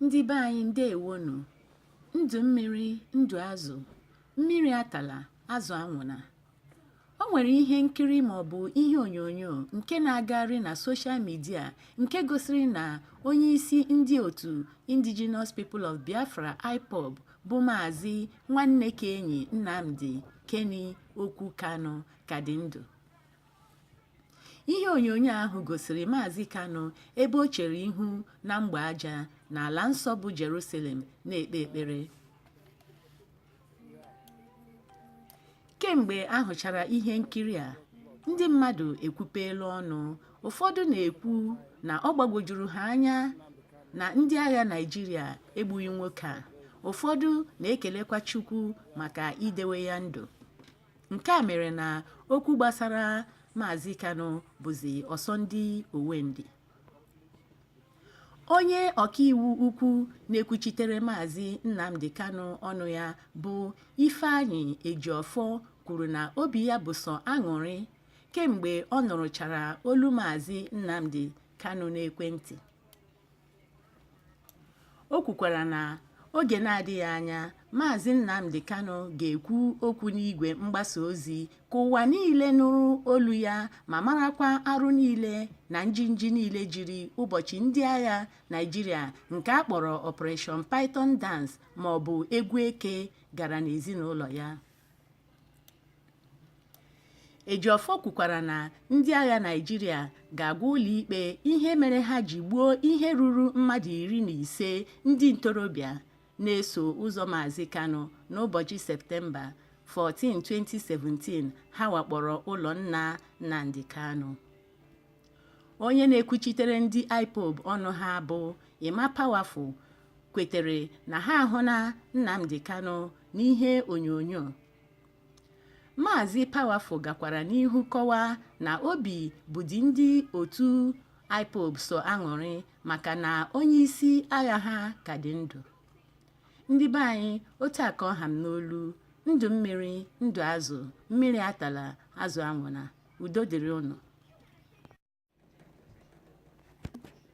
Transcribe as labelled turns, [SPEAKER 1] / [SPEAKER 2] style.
[SPEAKER 1] ndị be anyị ndewonụ ndụ mmiri ndụ azụ mmiri atala azụ anwụna o nwere ihe nkiri maọbụ ihe onyonyo nke na-agagharị na soshal midia nke gosiri na onye isi ndị otu indigenous people of biafra ipob bụ maazị nwannekaenyi nnamdi kenny okwu kanu ka dị ndụ ihe onyonyo ahụ gosiri Maazị Kanu ebe o chere ihu na mgbe aja n'ala nsọ bụ Jerusalem na-ekpe ekpere kemgbe a hụchara ihe nkiri a ndị mmadụ ekwupeela ọnụ ụfọdụ na-ekwu na ọ gbagwojuru ha anya na ndị agha Naịjirịa egbughị nwoke a ụfọdụ na-ekelekwa Chukwu maka idewe ya ndụ nke a mere na okwu gbasara maazị kanu bụzi ọsọ ndị owe ndị onye ọkaiwu ukwu na-ekwuchitere maazị nnamdi kanu ọnụ ya bụ ifeanyi ejiofor kwuru na obi ya bụ sọ aṅụrị kemgbe ọ nụrụchara olu maazị nnamdi kanu n'ekwentị o kwukwara na oge na-adịghị anya Maazị Nnamdi Kanu ga-ekwu okwu n'igwe mgbasa ozi ka ụwa niile nụrụ olu ya ma marakwa arụ niile na njinji niile jiri ụbọchị ndị agha Naịjirịa nke a kpọrọ Operation Python Dance maọbụ egwu eke gara n'ezinụlọ ya. Ejiofor kwukwara na ndị agha Naịjirịa ga-agwa ụlọikpe ihe mere ha ji gbuo ihe ruru mmadụ iri na ise ndị ntorobịa na-eso ụzọ Maazị Kanu n'ụbọchị Septemba 14, 2017 ha wakporo ụlọ nna Nnamdi Kanu. onye na-ekwuchitere ndị ipob ọnụ ha bụ Emma Powerful kwetere na ha ahụna Nnamdi Kanu n'ihe onyonyo Maazị Powerful gakwara n'ihu kọwaa na obi bụdị ndị otu ipob sọ aṅụrị maka na onye isi agha ha ka dị ndụ ndị be anyị otu a ka ọ ha m n'olu ndụ mmiri ndụ azụ mmiri atala azụ anwụna udo dịrị ụnụ